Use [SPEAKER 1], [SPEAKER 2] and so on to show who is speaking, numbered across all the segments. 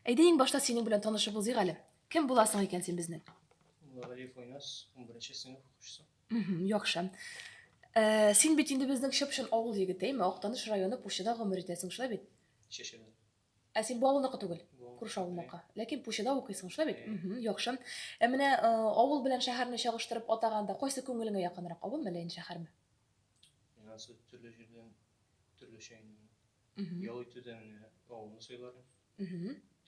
[SPEAKER 1] Әйдә иң башта синең белән танышып узыйк әле. Кем буласың икән син безнең? Галиев Уйнас, 11 сыйныф укучысы. Мгм, Яхшы. Э, Син бит инде безнең чып-чын авыл егете, әйме? Актаныш районы Пущада гомер итәсең, шулай бит? Чәчәдән. Ә син бу авылныкы түгел, Бу авыл күрше авылныкы. Ләкин Пущада укыйсың, шулай бит? Әйе. Мгм, Яхшы. Ә менә э, авыл белән шәһәрне чагыштырып атаганда, кайсы күңелеңә якынрак, авылмы әллә инде шәһәрме? Миңа су төрле җирдән төрлечә инде. ял итүдә менә авылны сайларым.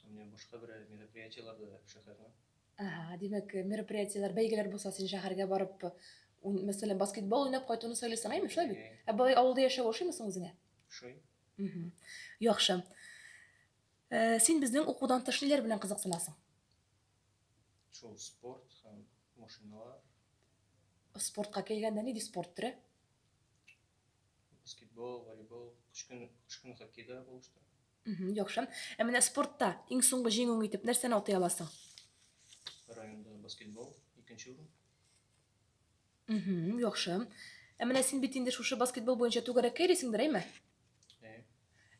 [SPEAKER 1] Менә башка бер мероприятиеларда да шәһәрнең. Әһә, димәк, мероприятиеләр, бәйгеләр булса, син шәһәргә барып, мәсәлән, баскетбол уйнап кайтуны сайлыйсың, әйме, шулай бит? Ә болай авылда яшәү ошыймы соң үзеңә? Ошый. Яхшы. Син безнең укудан тыш ниләр белән кызыксынасың? Шул спорт һәм машиналар. Спортка килгәндә, нинди спорт төре? Баскетбол, волейбол, кыш көн, кыш көн хоккейда булыштым. Мгм, Яхшы. Ә менә спортта иң соңгы җиңүең итеп нәрсәне атый аласың? Районда баскетбол, икенче урын. Мгм, Яхшы. Ә менә син бит инде шушы баскетбол буенча түгәрәккә йөрисеңдер, әйме? Әйе.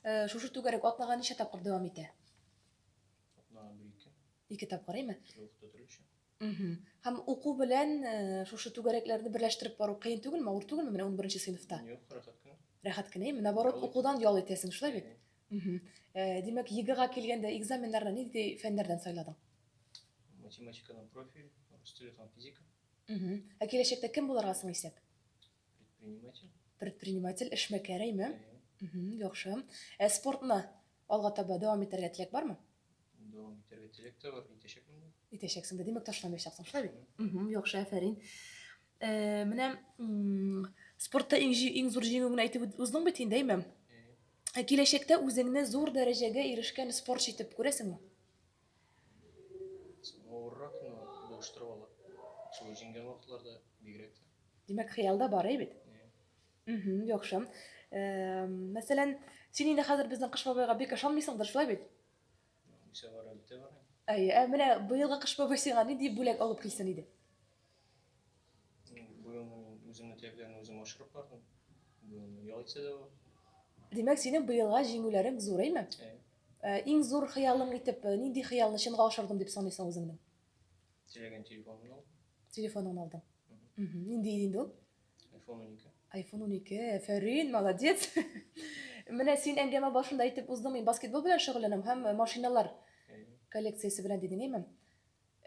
[SPEAKER 1] Э, Шушы түгәрәк атнага ничә тапкыр дәвам итә? Атнага бер-ике. Ике тапкыр, әйме? Төрле вакытта төрлечә. Мхм. Һәм уку белән шушы түгәрәкләрне берләштереп бару кыен түгелме, авыр түгелме менә унберенче сыйныфта? Юк, рәхәт кенә. Рәхәт кенә, әйеме? Наоборот, укудан ял итәсең, шулай бит? Мхм. Димәк, ЕГЭга килгәндә экзаменнарны нинди фәннәрдән сайладың? Математикадан профиль, рус теле һәм физика. Мхм. Ә киләчәктә кем булырга соң исәп? Предприниматель. Предприниматель, эшмәкәр, әйеме? Мхм, яхшы. Ә спортны алга таба дәвам итәргә теләк бармы? Дәвам итәргә теләк тә бар, итәчәкмен дә. Итәчәксең дә, димәк, ташламаячаксың, шулай бит? Мгм, яхшы, әфәрин. Э, Менә м, спортта иң җи- иң зур җиңүеңне әйтеп үт- уздың бит инде, әйме? Э, Ә Киләчәктә үзеңне зур дәрәҗәгә ирешкән спортчы итеп күрәсеңме? Авыррак, но булыштырып ала. Шул җиңгән вакытларда бигрәк тә. Димәк, хыялда бар, әй бит? Э, Мхм, яхшы. Э, мәсәлән, син инде хәзер безнең Кыш бабайга бик ышанмыйсыңдыр, шулай бит? Ничә бар әле тә бар. Әйе, ә менә быелгы Кыш бабай сиңа нинди бүләк алып килсен иде? Быел мин үземне теләкләрне үзем ашырып бардым. Быел ял итсә дә бар. Димәк, синең быелга җиңүләрең зур, әйме? Әйе. Э, иң зур хыялың итеп, э, нинди хыялны чынга ашырдым дип саныйсың үзеңне? Теләгән телефонымны алдым. Телефоныңны алдың. Мхм, нинди иде инде ул? Айфон унике. Айфон унике, әфәрин, молодец! Менә син әңгәмә башында әйтеп уздың, мин баскетбол белән шөгыльләнәм һәм э, машиналар коллекциясе белән дидең, әйме?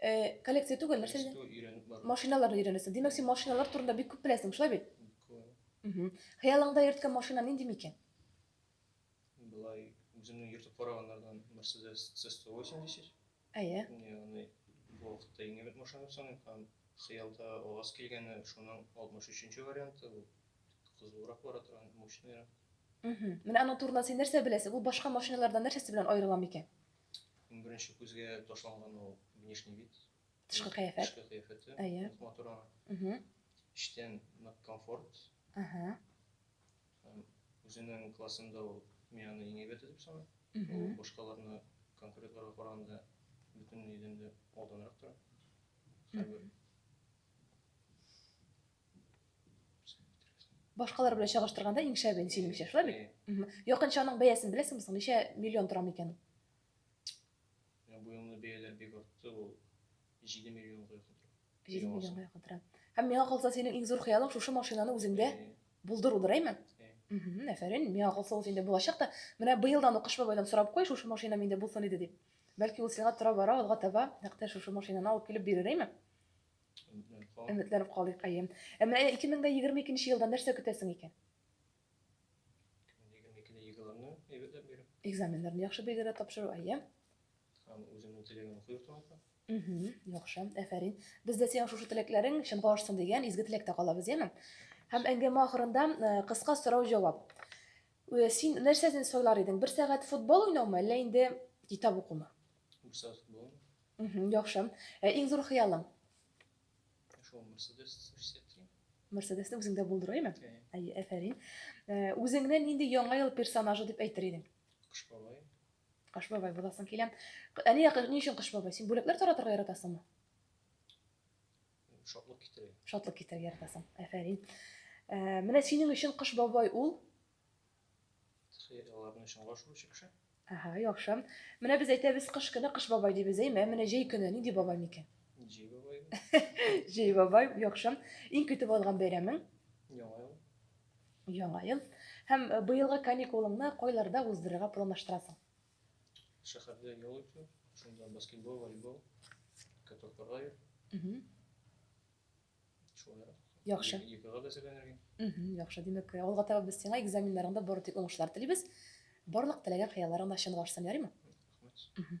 [SPEAKER 1] Э, коллекция түгел, нәрсә дидең? Что өйрәнеп бар. Машиналарны өйрәнәсең. Димәк, син машиналар турында бик күп беләсең, шулай бит? Мгм. Хыялыңда йөрткән машина нинди микән? Былай үземнең йөртеп караганнардан Mercedes C180. Әйе. Ягъни бу вакытта иң әйбәт машина саныйм һәм хыялда ААЗ килгәне, шуның 63 нче варианты, ул кызулырак бара торган, мощныйрак. Мгм. Менә аның турында син нәрсә беләсең? Ул башка машиналардан нәрсәсе белән аерыла микән? Иң беренче күзгә ташланган ул внешний вид, Тышкы кыяфәт. тышкы кыяфәте, Әйе. нык матур аның. Мгм. Эчтән нык комфорт, Ага. Һәм үзенең классында ул Мияны иң әйбәте дип саный. Ул башкаларны конкуретларга караганда бөтен идән дә алданрак тора. Хәбер. Башкалар белән чагыштырганда иң шәбен синеңчә, шулай бит? Якынча аның бәясен беләсеңме соң? Ничә миллион тора микән? Бу елны бәяләр бик артты, ул Җиде миллион кыйкытырам. Җиде миллион кыйкытырам. Һәм миңа калса, синең иң зур хыялың шушы машинаны үзеңдә булдырудыр, әйме? Әфәрин, миңа калса ул инде булачак та, менә быелдан ук Кыш бабайдан сорап куй, шушы машина миндә булсын иде дип. Бәлки ул сиңа тора-бара алга таба нәкъ тә шушы машинаны алып килеп бирер, әйме? Өметләнеп калыйк, әйе. Ә менә 2022 елдан нәрсә көтәсең икән? 2022 елымны әйбәтләп бирү. Экзаменнарны яхшы бирергә тапшыру, әйе. Һәм үземнең теләгемне куеп тыңлатам. Угу, яхшы, әфәрин. Без дә синең шушы теләкләрең чынга ашсын дигән изге теләктә калабыз, яме? Һәм әңгәмә ахырында э, кыска сорау-җавап. Э, син нәрсәсен сайлар идең? Бер сәгать футбол уйнаумы, әллә инде китап укумы? Бер сәгать футбол. Угу, яхшы. Э, иң зур хыялың? Шул Mercedes 303. Mercedes-ны үзеңдә булдыру, яме? Әйе, әфәрин. Үзеңне нинди яңа ел персонажы дип әйтер идең? Кыш бабай. Кыш бабай буласың килә. Әни, ни өчен кыш бабай? Син бүләкләр таратырга яратасыңмы? Шатлык китерә. Шатлык китерә яратасың. Әфәрин. Э, менә синең өчен кыш бабай ул? Аларның өчен гашуы чыкшы. Ага, яхшы. Менә без әйтәбез кыш көне кыш бабай дибез, әйме? Менә җәй көне нинди бабай микән? Җәй бабай. Җәй бабай, яхшы. Иң көтеп алган бәйрәмең? Яңа ел. Яңа ел һәм быелгы каникулыңны кайларда уздырырга планлаштырасың? Шәһәрдә ял итү, шунда баскетбол, волейбол, катокарга йөр. Шулай. Яхшы. Екыга да әзерләнергә. Яхшы, димәк, алга таба без сиңа экзаменнарыңда бары тик уңышлар телибез. Барлык теләгән хыялларың да чынлашсын, ярыймы? Рәхмәт.